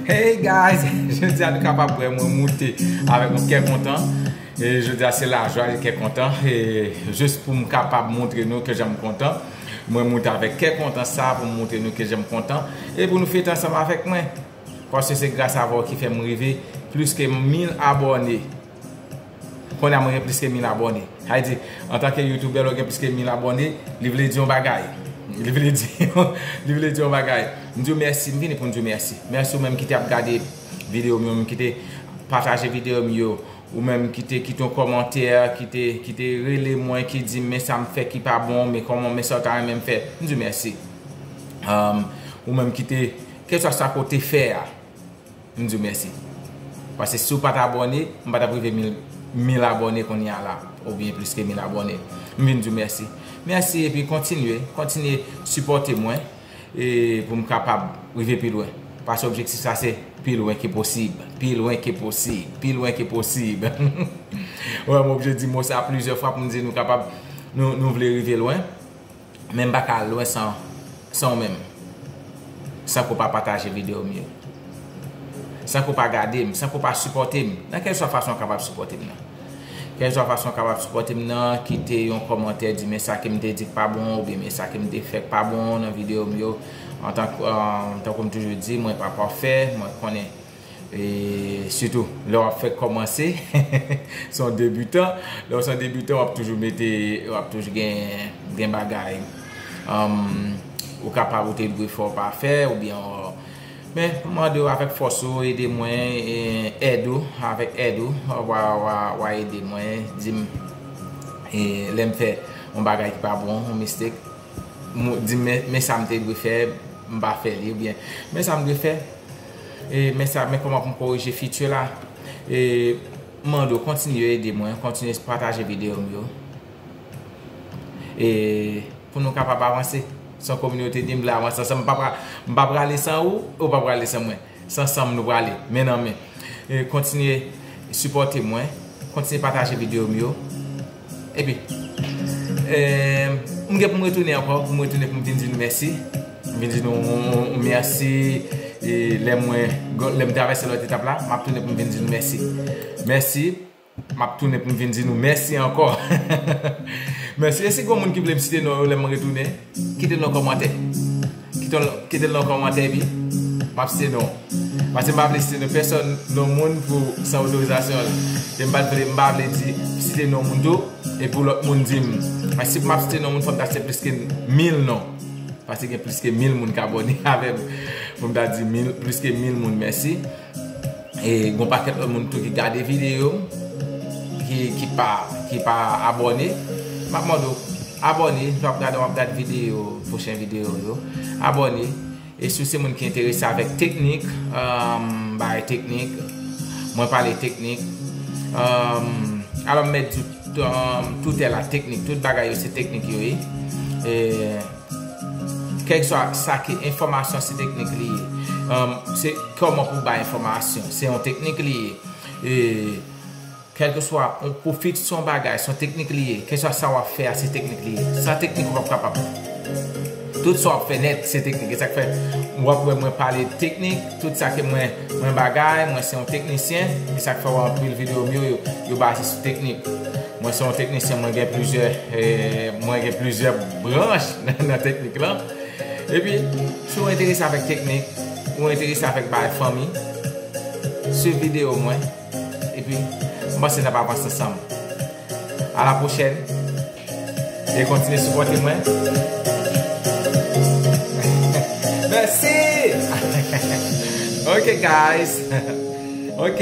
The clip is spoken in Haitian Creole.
Hey guys, je di a nou kapab wè mwen moute avèk mwen kè kontan e je di a se la jwa e kè kontan e jous pou m kapab moutre nou ke jan m kontan mwen moute avèk kè kontan sa pou m moutre nou ke jan m kontan e pou nou fete ansanm avèk mwen paske se gras avè w ki fè m rive pliske mil abòne. Konnya mwen gen plis ke 1000 abòne. Sa vle di, antanke youtubè lè w gen plis ke 1000 abòne, li vle di yon bagay. Li vle di li vle di yon bagay. M di w mèsi, m vini pou m di w mèsi. Mèsi ou menm ki te ap gade videyo m yo, ou menm ki te pataje videyo m yo, ou menm ki te kite yon kòmantè, ki te ki te rele mwen, ki di m men sa m fè ki pa bon, men kòman men sa w ta renmen m fè. M di w mèsi. Ou menm ki te, kèlswa sa ke w te fè a. M diw mèsi. Pase siw pat abòne m patap rive mil abòne kounya la oubyen plis ke mil abòne. M vin diw mèsi. Mèsi epi kontinye, kontinye sipòte mwen pou m kapab rive pi lwen. Pase objektif sa se pi lwen ke posib, pi lwen ke posib, pi lwen ke posib. Wè m oblije di mo sa plizyè fwa pou m di nou kapab nou vle rive lwen. Men m pa ka al lwen san ou menm San ke w pa pataje videyo m yo San ke w pa gade m San ke w pa sipòte m Nan kèlkeswa fason ou kapab sipòte m nan Kèlkeswa fason ou kapab sipòte m nan Kite yon kòmantè di men sa ke m te di k pa bon oubyen men sa ke m te fè k pa bon nan videyo m yo Tankou m toujou di mwen pa pafè Mwen konnen E sitou lè wap fèk kòmanse se yon debutan, lè ou se yon debutan wap toujou mete, wap toujou gen bagay ou kapab ou te dwe fè ou pa fè ou byen men m mande w avèk fòs ou ede mwen èd ou, avèk èd ou wa ede mwen di m lè m fè yon bagay ki pa bon, yon mistake di m men sa m te dwe fè m pa fè li ou byen men sa m dwe fè. Men sa men kòman pou m korije feature la M mande w kontinye ede mwen Kontinye pataje videyo m yo Pou nou kapab avanse Se yon kominote dim vle avanse ansanm M pa prale san ou E ou pa prale san mwen Se ansanm nou prale Men nan men Kontinye sipòte mwen Kontinye pataje videyo m yo Epi M gen pou m retounen ankò pou m retounen pou m vin di nou mèsi pou m vin di nou mèsi lè mwen lè m travèse lòt etap la m ap tounen pou m vin di nou mèsi mèsi m ap tounen pou m vin di nou mèsi ankò mèsi e si gen moun ki vle m site non yo lè m retounen. Kite l nan kòmantè. Kite l nan kòmantè epi m ap site non w. Paske m pa vle site non pèsòn, non moun pou san otorizasyon l. E m pa vle di site non moun tou e pou lòt moun di m. Paske si m ap site non moun fò m ta site plis ke mil non. Paske gen plis ke mil moun k abòne avè m pou m ta di plis ke mil moun mèsi. Gon pakèt lòt moun tou ki gade video m ki pa abòne map mande w abòne lè wap gade wap gad video pwochen video yo abòne e si w se moun ki enterese avèk teknik bagay teknik mwen pale teknik alò m mèt di w tout bagay yo se teknik yo ye. Kèlkeswa sa ki enfòmasyon se teknik li ye. Se kòman pou bay enfòmasyon. Se yon teknik li ye. E kèlkeswa pou fiks yon bagay, se yon teknik li ye. Kèlkeswa sa wap fè a, se teknik li ye. San teknik ou pap kapab. Tout sa wap fè nèt, se teknik. E sak fè, wap wè mwen pale teknik, tout sa ke mwen bagay, mwen se yon teknisyen. E sak fè wè anpil videyo m yo, yo baze sou teknik. Mwen se yon teknisyen mwen gen plizyè mwen gen plizyè branch nan teknik lan epi si ou enterese avèk teknik ou enterese avèk bagay fanmi swiv videyo mwen epi mwen panse nap avanse ansanm a la pwochèn e kontinye sipòte mwen mèsi ok guys ok.